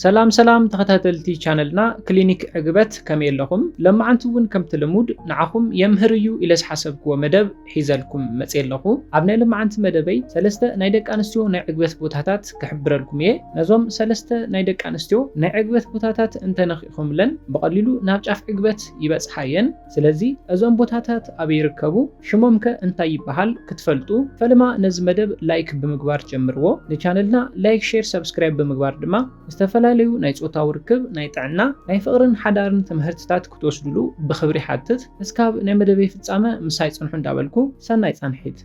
ሰላም ሰላም ተኸታተልቲ ቻነልና ክሊኒክ ዕግበት ከመይ ኣለኹም ለማዓንቲ እውን ከምቲ ልሙድ ንዓኹም የምህር እዩ ኢለ ዝሓሰብክዎ መደብ ሒዘልኩም መፅየ ኣለኹ ኣብ ናይ ልማዓንቲ መደበይ ሰለስተ ናይ ደቂ ኣንስትዮ ናይ ዕግበት ቦታታት ክሕብረልኩም እየ ነዞም ሰለስተ ናይ ደቂ ኣንስትዮ ናይ ዕግበት ቦታታት እንተነኺእኹምለን ብቐሊሉ ናብ ጫፍ ዕግበት ይበፅሓ እየን ስለዚ እዞም ቦታታት ኣበይ ይርከቡ ሽሞም ከ እንታይ ይበሃል ክትፈልጡ ፈለማ ነዚ መደብ ላይክ ብምግባር ጀምርዎ ንቻነልና ላይክ ሼር ሳብስክራይብ ብምግባር ድማ ዝተፈላለዩ ናይ ጾታዊ ርክብ ናይ ጥዕና ናይ ፍቅርን ሓዳርን ትምህርትታት ክትወስድሉ ብክብሪ ይሓትት እስካብ ናይ መደበይ ፍጻመ ምሳይ ጽንሑ እንዳበልኩ ሰናይ ጻንሒት።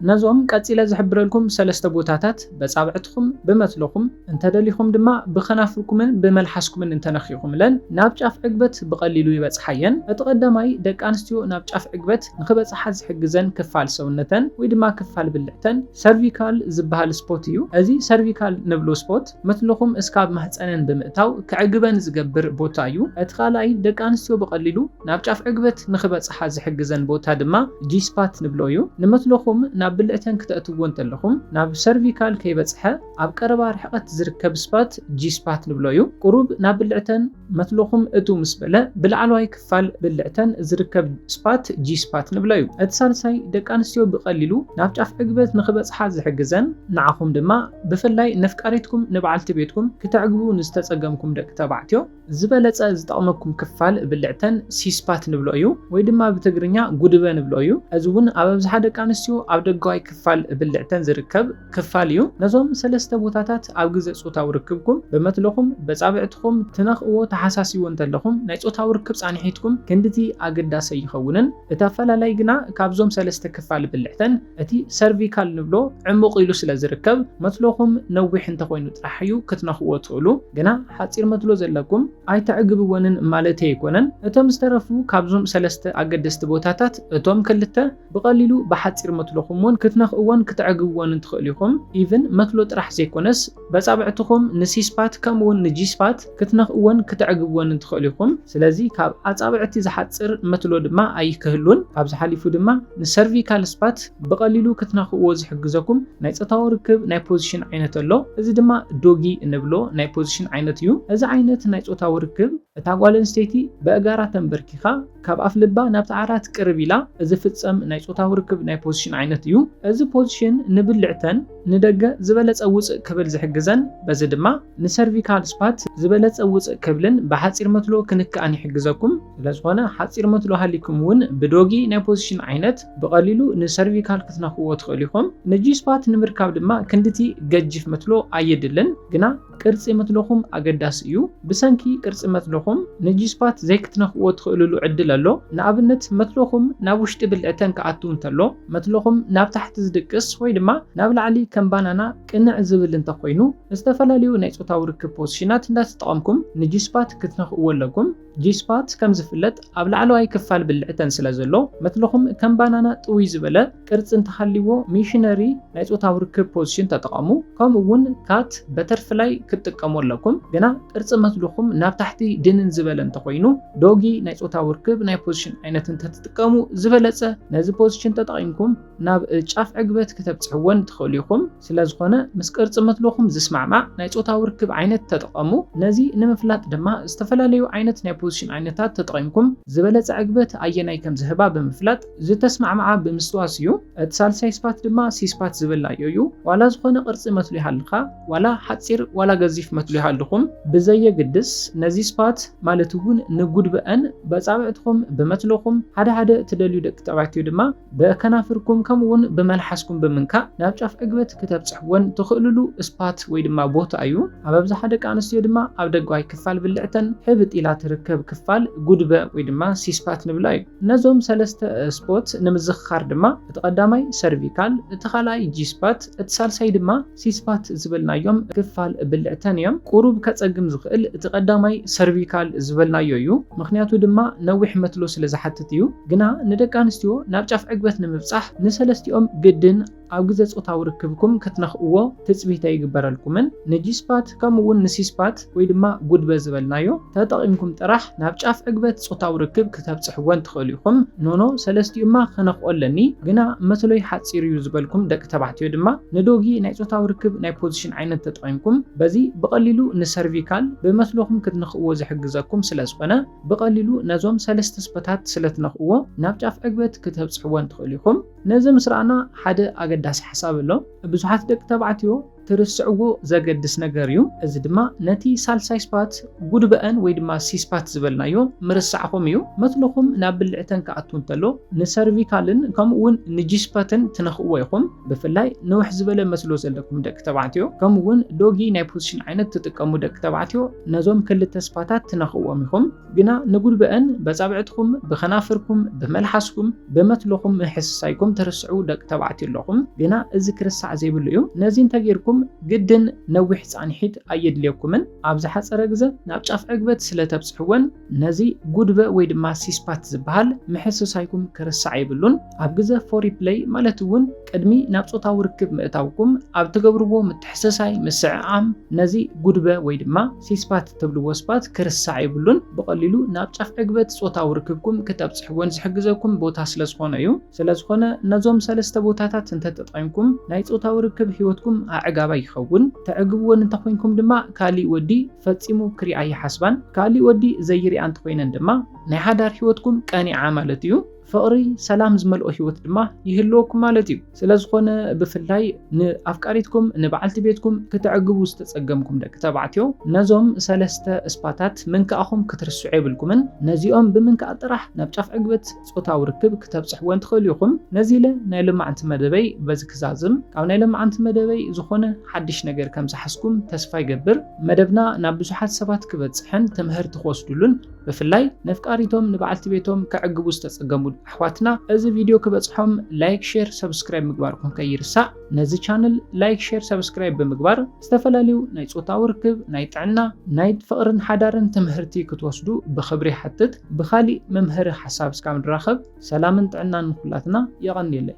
ነዞም ቀጺለ ዝሕብረልኩም ሰለስተ ቦታታት በጻብዕትኹም፣ ብመትሎኹም፣ እንተ ደሊኹም ድማ ብኸናፍርኩምን ብመልሓስኩምን እንተ ነኺኹምለን ናብ ጫፍ ዕግበት ብቐሊሉ ይበጽሓ እየን። እቲ ቀዳማይ ደቂ ኣንስትዮ ናብ ጫፍ ዕግበት ንኽበጽሓ ዝሕግዘን ክፋል ሰውነተን ወይ ድማ ክፋል ብልዕተን ሰርቪካል ዝበሃል ስፖት እዩ። እዚ ሰርቪካል ንብሎ ስፖት፣ መትልኹም እስካብ ማህጸነን ብምእታው ከዕግበን ዝገብር ቦታ እዩ። እቲ ካልኣይ ደቂ ኣንስትዮ ብቐሊሉ ናብ ጫፍ ዕግበት ንኽበጽሓ ዝሕግዘን ቦታ ድማ ጂ-ስፓት ንብሎ እዩ። ንመትልኹም ናብ ብልዕተን ክተእትውዎ እንተለኹም ናብ ሰርቪካል ከይበጽሐ ኣብ ቀረባ ርሕቐት ዝርከብ ስፓት ጂ-ስፓት ንብሎ እዩ። ቁሩብ ናብ ብልዕተን። መትሎኹም እትው ምስ በለ ብላዕለዋይ ክፋል ብልዕተን ዝርከብ ስፓት ጂ-ስፓት ንብሎ እዩ። እቲ ሳልሳይ ደቂ ኣንስትዮ ብቐሊሉ ናብ ጫፍ ዕግበት ንኽበጽሓ ዝሕግዘን፣ ንዓኹም ድማ ብፍላይ ነፍቃሪትኩም ንበዓልቲ ቤትኩም ክተዕግቡ ንዝተጸገምኩም ደቂ ተባዕትዮ ዝበለጸ ዝጠቕመኩም ክፋል ብልዕተን ሲ-ስፓት ንብሎ እዩ ወይ ድማ ብትግርኛ ጉድበ ንብሎ እዩ። እዚ እውን ኣብ ኣብዝሓ ደቂ ኣንስትዮ ኣብ ደጋዋይ ክፋል ብልዕተን ዝርከብ ክፋል እዩ። ነዞም ሰለስተ ቦታታት ኣብ ግዘ ፆታዊ ርክብኩም ብመትሎኹም፣ በፃብዕትኹም፣ ትነኽእዎ፣ ተሓሳሲዎ እንተለኹም ናይ ፆታዊ ርክብ ፃንሒትኩም ክንድቲ ኣገዳሲ ኣይኸውንን። እቲ ኣፈላላይ ግና ካብዞም ሰለስተ ክፋል ብልዕተን እቲ ሰርቪካል ንብሎ ዕሙቕ ኢሉ ስለዝርከብ መትሎኹም ነዊሕ እንተኾይኑ ጥራሕ እዩ ክትነኽእዎ እትኽእሉ። ግና ሓፂር መትሎ ዘለኩም ኣይተዕግብወንን ማለተይ ኣይኮነን። እቶም ዝተረፉ ካብዞም ሰለስተ ኣገደስቲ ቦታታት እቶም ክልተ፣ ብቀሊሉ ብሓጺር መትሎኹም'ውን ክትነኽእዎን ክተዕግብዎንን ትኽእሉ ኢኹም። ኢቭን መትሎ ጥራሕ ዘይኮነስ በጻብዕትኹም ንሲስፓት ከምኡ'ውን ንጂስፓት ክትነኽእዎን ክተዕግብዎንን ትኽእሉ ኢኹም። ስለዚ ካብ ኣጻብዕቲ ዝሓጽር መትሎ ድማ ኣይክህሉን። ካብዚ ሓሊፉ ድማ ንሰርቪካል ስፓት ብቀሊሉ ክትነኽእዎ ዝሕግዘኩም ናይ ጾታዊ ርክብ ናይ ፖዚሽን ዓይነት ኣሎ። እዚ ድማ ዶጊ እንብሎ ናይ ፖዚሽን ዓይነት እዩ። እዚ ዓይነት ናይ ጾታዊ ርክብ እታ ጓል ኣንስተይቲ በእጋራ ተንበርኪኻ፣ ካብ ኣፍ ልባ ናብቲ ዓራት ቅርብ ኢላ ዚፍጸም ናይ ጾታዊ ርክብ ናይ ፖዚሽን ዓይነት እዩ። እዚ ፖዚሽን ንብልዕተን ንደገ ዝበለጸ ውጽእ ክብል ዝሕግዘን፣ በዚ ድማ ንሰርቪካል ስፓት ዝበለጸ ውጽእ ክብልን ብሓጺር መትሎ ክንክኣን ይሕግዘኩም። ስለዝኾነ ሓጺር መትሎ ሃሊኩም እውን ብዶጊ ናይ ፖዚሽን ዓይነት ብቐሊሉ ንሰርቪካል ክትነክእዎ ትኽእሉ ኢኹም። ንጂ-ስፓት ንምርካብ ድማ ክንድቲ ገጂፍ መትሎ ኣየድልን፣ ግና ቅርጺ መትሎኹም ኣገዳሲ እዩ። ብሰንኪ ቅርጺ መትሎኹም ንጂስፓት ዘይክትነኽእዎ ትኽእልሉ ዕድል ኣሎ። ንኣብነት መትሎኹም ናብ ውሽጢ ብልዕተን ክኣቱ እንተሎ፣ መትሎኹም ናብ ታሕቲ ዝድቅስ ወይ ድማ ናብ ላዕሊ ከም ባናና ቅንዕ ዝብል እንተኾይኑ፣ ዝተፈላለዩ ናይ ጾታዊ ርክብ ፖዝሽናት እንዳተጠቐምኩም ንጂስፓት ክትነኽእዎ ኣለኩም። ጂስፓት ከም ዝፍለጥ ኣብ ላዕለዋይ ክፋል ብልዕተን ስለ ዘሎ መትልኹም ከም ባናና ጥውይ ዝበለ ቅርጺ እንተሃልይዎ ሚሽነሪ ናይ ጾታዊ ርክብ ፖዚሽን ተጠቐሙ ከምኡ እውን ካት በተርፍላይ ክትጥቀሙ ኣለኩም ግና ቅርጺ መትልኹም ናብ ታሕቲ ድንን ዝበለ እንተኾይኑ ዶጊ ናይ ጾታዊ ርክብ ናይ ፖዚሽን ዓይነት እንተትጥቀሙ ዝበለጸ ነዚ ፖዚሽን ተጠቒምኩም ናብ ጫፍ ዕግበት ክተብጽሕዎን ትኽእሉ ኢኹም። ስለዝኾነ ምስ ቅርጺ መትሎኹም ዝስማዕማዕ ናይ ጾታዊ ርክብ ዓይነት ተጠቐሙ። ነዚ ንምፍላጥ ድማ ዝተፈላለዩ ዓይነት ናይ ፖዚሽን ዓይነታት ተጠቒምኩም ዝበለጸ ዕግበት ኣየናይ ከም ዝህባ ብምፍላጥ ዝተስማዕማዓ ብምስትዋስ እዩ። እቲ ሳልሳይ ስፓት ድማ ሲስፓት ዝበልናዮ እዩ። ዋላ ዝኾነ ቅርጺ መትሎ ይሃልኻ፣ ዋላ ሓጺር ዋላ ገዚፍ መትሎ ይሃልኹም ብዘየግድስ ነዚ ስፓት ማለት እውን ንጉድበ'ን በጻብዕትኹም ብመትሎኹም ሓደ ሓደ ትደልዩ ደቂ ተባዕትዮ ድማ ብከናፍርኩም ከምኡውን ብመልሓስኩም ብምንካእ ናብ ጫፍ ዕግበት ክተብጽሕወን ትኽእሉሉ ስፓት ወይ ድማ ቦታ እዩ። ኣብ ኣብዝሓ ደቂ ኣንስትዮ ድማ ኣብ ደጓይ ክፋል ብልዕተን ሕብጥ ኢላ ትርከብ ክፋል ጉድበ ወይ ድማ ሲስፓት ንብላ እዩ። ነዞም ሰለስተ ስፖት ንምዝኽኻር ድማ እቲ ቀዳማይ ሰርቪካል፣ እቲ ካልኣይ ጂስፓት፣ እቲ ሳልሳይ ድማ። ሲስፓት ዝበልናዮም ክፋል ብልዕተን እዮም። ቁሩብ ከጸግም ዝኽእል እቲ ቀዳማይ ሰርቪካል ዝበልናዮ እዩ፣ ምኽንያቱ ድማ ነዊሕ መትሎ ስለ ዝሓትት እዩ። ግና ንደቂ ኣንስትዮ ናብ ጫፍ ዕግበት ንምብጻሕ ንሰለስቲኦም ግድን ኣብ ግዘ ጾታዊ ርክብኩም ክትነኽእዎ ትጽቢት ኣይግበረልኩምን። ንጂስፓት፣ ከምኡ እውን ንሲስፓት ወይ ድማ ጉድበ ዝበልናዮ ተጠቒምኩም ጥራሕ ናብ ጫፍ ዕግበት ጾታዊ ርክብ ክተብጽሕወን ትኽእሉ ኢኹም። ኖኖ ሰለስቲኡማ ክነኽኦ ኣለኒ ግና መትሎይ ሓጺር እዩ ዝበልኩም ደቂ ተባዕትዮ ድማ ንዶጊ ናይ ጾታዊ ርክብ ናይ ፖዚሽን ዓይነት ተጠቒምኩም በዚ ብቐሊሉ ንሰርቪካል ብመትሎኹም ክትንኽእዎ ዝሕግዘኩም ስለ ዝኾነ ብቐሊሉ ነዞም ሰለስተ ስፐታት ስለ ትነኽእዎ ናብ ጫፍ ዕግበት ክተብጽሕወን ትኽእሉ ኢኹም። ነዚ ምስ ረኣና ሓደ ኣገዳሲ ሓሳብ ኣሎ። ብዙሓት ደቂ ተባዕትዮ ትርስዕዎ ዘገድስ ነገር እዩ እዚ ድማ ነቲ ሳልሳይ ስፓት ጉድበእን ወይ ድማ ሲስፓት ዝበልናዮ ምርሳዕኹም እዩ መትንኹም ናብ ብልዕተን ክኣቱ እንተሎ ንሰርቪካልን ከምኡ ውን ንጂስፐትን ትነኽእዎ ኢኹም ብፍላይ ንውሕ ዝበለ መስሎ ዘለኩም ደቂ ተባዕትዮ ከምኡ ውን ዶጊ ናይ ፖዚሽን ዓይነት ትጥቀሙ ደቂ ተባዕትዮ ነዞም ክልተ ስፓታት ትነኽእዎም ኢኹም ግና ንጉልበእን በጻብዕትኩም ብከናፍርኩም ብመልሓስኩም ብመትሎኹም ምሕስሳይኩም ትርስዑ ደቂ ተባዕትዮ ኣለኹም ግና እዚ ክርሳዕ ዘይብሉ እዩ ነዚ እንተጌርኩም ግድን ነዊሕ ጻኒሒት ኣየድልየኩምን ኣብ ዝሓጸረ ግዘ ናብ ጫፍ ዕግበት ስለ ተብጽሕወን ነዚ ጉድበእ ወይ ድማ ሲስፓት ዝበሃል ምሕስሳይኩም ክርሳዕ የብሉን ኣብ ግዘ ፎሪፕለይ ማለት እውን ቅድሚ ናብ ጾታዊ ርክብ ምእታውኩም ኣብ ትገብርዎ ምትሕስሳይ ምስዕዓም ነዚ ጉድበ ወይ ድማ ሲስፓት እትብልዎ ስፓት ክርሳዕ የብሉን፣ ብቐሊሉ ናብ ጫፍ ዕግበት ጾታዊ ርክብኩም ክተብጽሕዎን ዝሕግዘኩም ቦታ ስለ ዝኾነ እዩ። ስለ ዝኾነ ነዞም ሰለስተ ቦታታት እንተ ተጠቒምኩም ናይ ጾታዊ ርክብ ህይወትኩም ኣዕጋባይ ይኸውን። ተዕግብወን እንተ ኾይንኩም ድማ ካሊእ ወዲ ፈጺሙ ክሪኣ ኣይሓስባን። ካሊእ ወዲ ዘይሪኣ እንተ ኾይነን ድማ ናይ ሓዳር ህይወትኩም ቀኒዓ ማለት እዩ። ፍቕሪ ሰላም ዝመልኦ ህይወት ድማ ይህልወኩም ማለት እዩ። ስለ ዝኾነ ብፍላይ ንኣፍቃሪትኩም ንበዓልቲ ቤትኩም ክተዕግቡ ዝተጸገምኩም ደቂ ተባዕትዮ ነዞም ሰለስተ እስፓታት ምንካእኹም ክትርስዑ የብልኩምን። ነዚኦም ብምንካእ ጥራሕ ናብ ጫፍ ዕግበት ጾታዊ ርክብ ክተብጽሕወን ትኽእሉ ኢኹም። ነዚ ኢለ ናይ ሎማዕንቲ መደበይ በዚ ክዛዝም። ካብ ናይ ሎማዕንቲ መደበይ ዝኾነ ሓድሽ ነገር ከም ዝሓዝኩም ተስፋ ይገብር። መደብና ናብ ብዙሓት ሰባት ክበጽሕን ትምህርቲ ክወስድሉን ብፍላይ ነፍቃሪቶም ንበዓልቲ ቤቶም ከዕግቡ ዝተጸገሙ ኣሕዋትና እዚ ቪድዮ ክበጽሖም ላይክ ሼር ሰብስክራይብ ምግባርኩም ከይርሳእ ነዚ ቻነል ላይክ ሼር ሰብስክራይብ ብምግባር ዝተፈላለዩ ናይ ጾታዊ ርክብ ናይ ጥዕና ናይ ፍቕርን ሓዳርን ትምህርቲ ክትወስዱ ብኽብሪ ይሓትት ብኻሊእ መምሀሪ ሓሳብ እስካብ ንራኸብ ሰላምን ጥዕናን ንኹላትና የቐንየለይ።